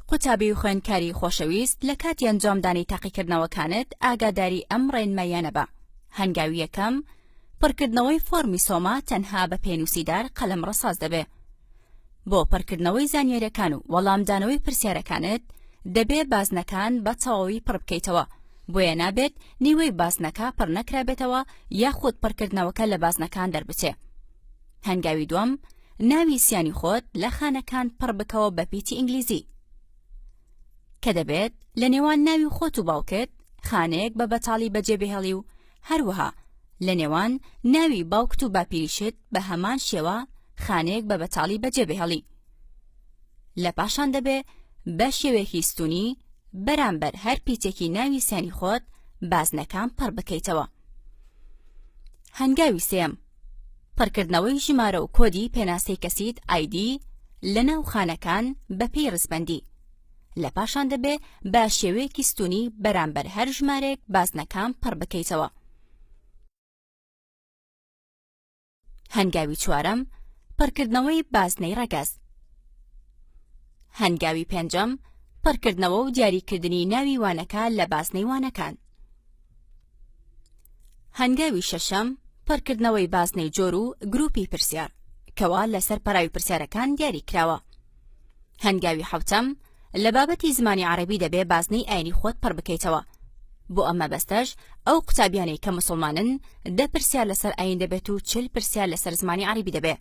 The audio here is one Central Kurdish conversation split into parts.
قوتابی و خوێندکاری خۆشەویست لە کاتی ئەنجامدانی تاقیکردنەوەکانت ئاگاداری ئەم ڕێنماییانە بە هەنگاوی یەکەم پڕکردنەوەی فۆرمی سۆما تەنها بە پێنووسیدار قەلەم ڕساز دەبێ بۆ پڕکردنەوەی زانیاریەکان و وەڵامدانەوەی پرسیارەکانت دەبێ بازنەکان بە تەواوی پڕ بکەیتەوە بۆیە نابێت نیوەی بازنەکە پڕ نەکرابێتەوە یاخود پڕکردنەوەکە لە بازنەکان دەربچێ هەنگاوی دوم ناوی سیانی خۆت لە خانەکان پڕ بکەوە بە پیتی ئینگلیزی کە دەبێت لە نێوان ناوی خۆت و باوکت خانەیەک بە بەتاڵی بەجێبهێڵی و هەروەها لە نێوان ناوی باوکت و باپیریشت بە هەمان شێوە خانەیەک بە بەتاڵی بەجێبهێڵی لە پاشان دەبێ بە شێوەیەکی ستونی بەرامبەر هەر پیتێکی ناوی سیانی خۆت بازنەکان پڕ بکەیتەوە هەنگاوی سێم پڕکردنەوەی ژمارە و کۆدی پێناسەی کەسیت ID لەناو خانەکان بەپێی ڕیزبەندی لە پاشان دەبێ بە شێوەیەکی ستونی بەرامبەر هەر ژمارەیەک بازنەکان پڕ بکەیتەوە. هەنگاوی چوارەم پڕکردنەوەی بازنەی ڕەگەز هەنگاوی پێنجەم پڕکردنەوە و دیاریکردنی ناوی وانەکە لە بازنەی وانەکان هەنگاوی شەشەم پڕکردنەوەی بازنەی جۆر و گروپی پرسیار کەوا لەسەر پەراوی پرسیارەکان دیاری کراوە هەنگاوی حوتەم لە بابەتی زمانی عربی دەبێ بازنەی ئاینی خۆت پڕ بکەیتەوە بۆ ئەمە بەستەش ئەو قوتابیانەی کە مسلمانن دە پرسیار لەسەر ئاین دەبێت و چل پرسیار لەسەر زمانی عربی دەبێ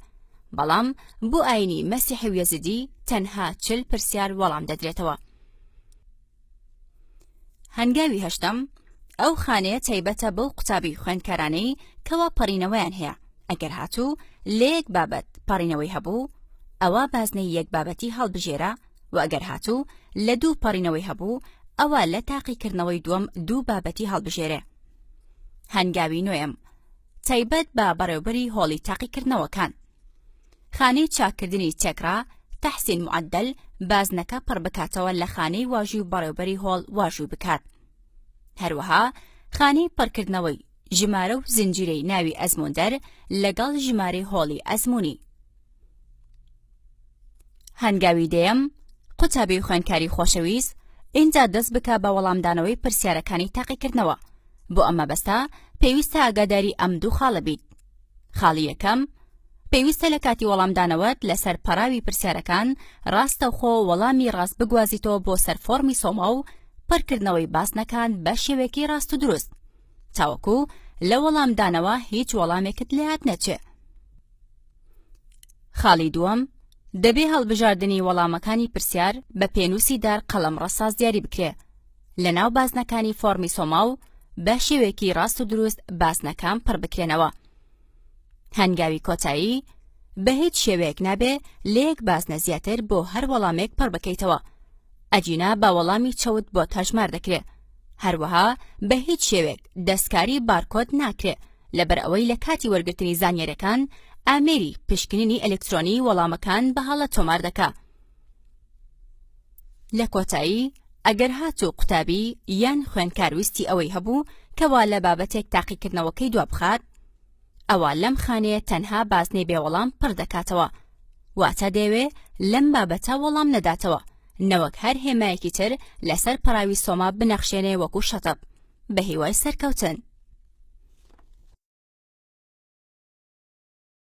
بەڵام بۆ ئاینی مەسیحی و یەزیدی تەنها چل پرسیار وەڵام دەدرێتەوە هەنگاوی هەشتەم ئەو خانەیە تایبەتە بەو قوتابی خوێندکارانەی کەوا پەڕینەوەیان هەیە ئەگەر هاتوو لە یەک بابەت پەڕینەوەی هەبوو ئەوە بازنەی یەک بابەتی هەڵبژێرە و ئەگەر هاتوو لە دوو پەڕینەوەی هەبوو ئەوە لە تاقیکردنەوەی دووەم دوو بابەتی هەڵبژێرێ هەنگاوی نوێم تایبەت بە بەڕێوبەری هۆڵی تاقیکردنەوەکان خانەی چاککردنی تێکڕا تەحسین معدل بازنەکە پڕ بکاتەوە لە خانەی واژوی و بەڕێوبەری هۆڵ واژوی بکات هەروەها خانەی پڕکردنەوەی ژمارە و زنجیرەی ناوی ئەزموندەر لەگەڵ ژمارەی هۆڵی ئەزمونی هەنگاوی دەیەم قوتابی خوێنکاری خۆشەویست ئینجا دەست بکە بە وەڵامدانەوەی پرسیارەکانی تاقیکردنەوە بۆ ئەمە بەستە پێویستە ئاگاداری ئەم دوو خاڵە بیت خاڵی یەکەم، پێویستە لە کاتی وەڵامدانەوەت لەسەر پەڕاوی پرسیارەکان ڕاستەوخۆ وەڵامی ڕاست بگوازیتەوە بۆ سەر فۆڕمی سۆما و پڕکردنەوەی بازنەکان بە شێوەیەکی ڕاست و دروست تاوەکو لە وەڵامدانەوە هیچ وەڵامێکت لات نەچێ خاڵی دووەم دەبێ هەڵبژاردنی وەڵامەکانی پرسیار بە پێنووسی دار قەڵەم ڕەساز دیاری بکرێ لە ناو بازنەکانی فۆڕمی سۆماو بە شێوەیەکی ڕاست و دروست بازنەکان پڕ بکرێنەوە هەنگاوی کۆتایی بە هیچ شێوەیەک نابێ لە یەک بازنە زیاتر بۆ هەر وەڵامێک پڕ بکەیتەوە ئەجینا بە وەڵامی چەوت بۆ تاژمار دەکرێت هەروەها بە هیچ شێوێک دەستکاری بارکۆت ناکرێ لەبەر ئەوەی لە کاتی وەرگرتنی زانیاریەکان ئامێری پشکنینی ئەلکترۆنی وەڵامەکان بە هەڵە تۆمار دەکا. لە کۆتایی ئەگەر هاتوو قوتابی یان خوێنکار ویستی ئەوەی هەبوو کەوا لە بابەتێک تاقیکردنەوەکەی دوا بخات ئەوە لەم خانەیە تەنها بازنەی بێوەڵام پڕ دەکاتەوە واتە دەوێ لەم بابەتە وەڵام نەداتەوە نەوەک هەر هێمایەکی تر لەسەر پەراوی سۆما بنەخشێنێ وەکو شەتەب بە هیوای سەرکەوتن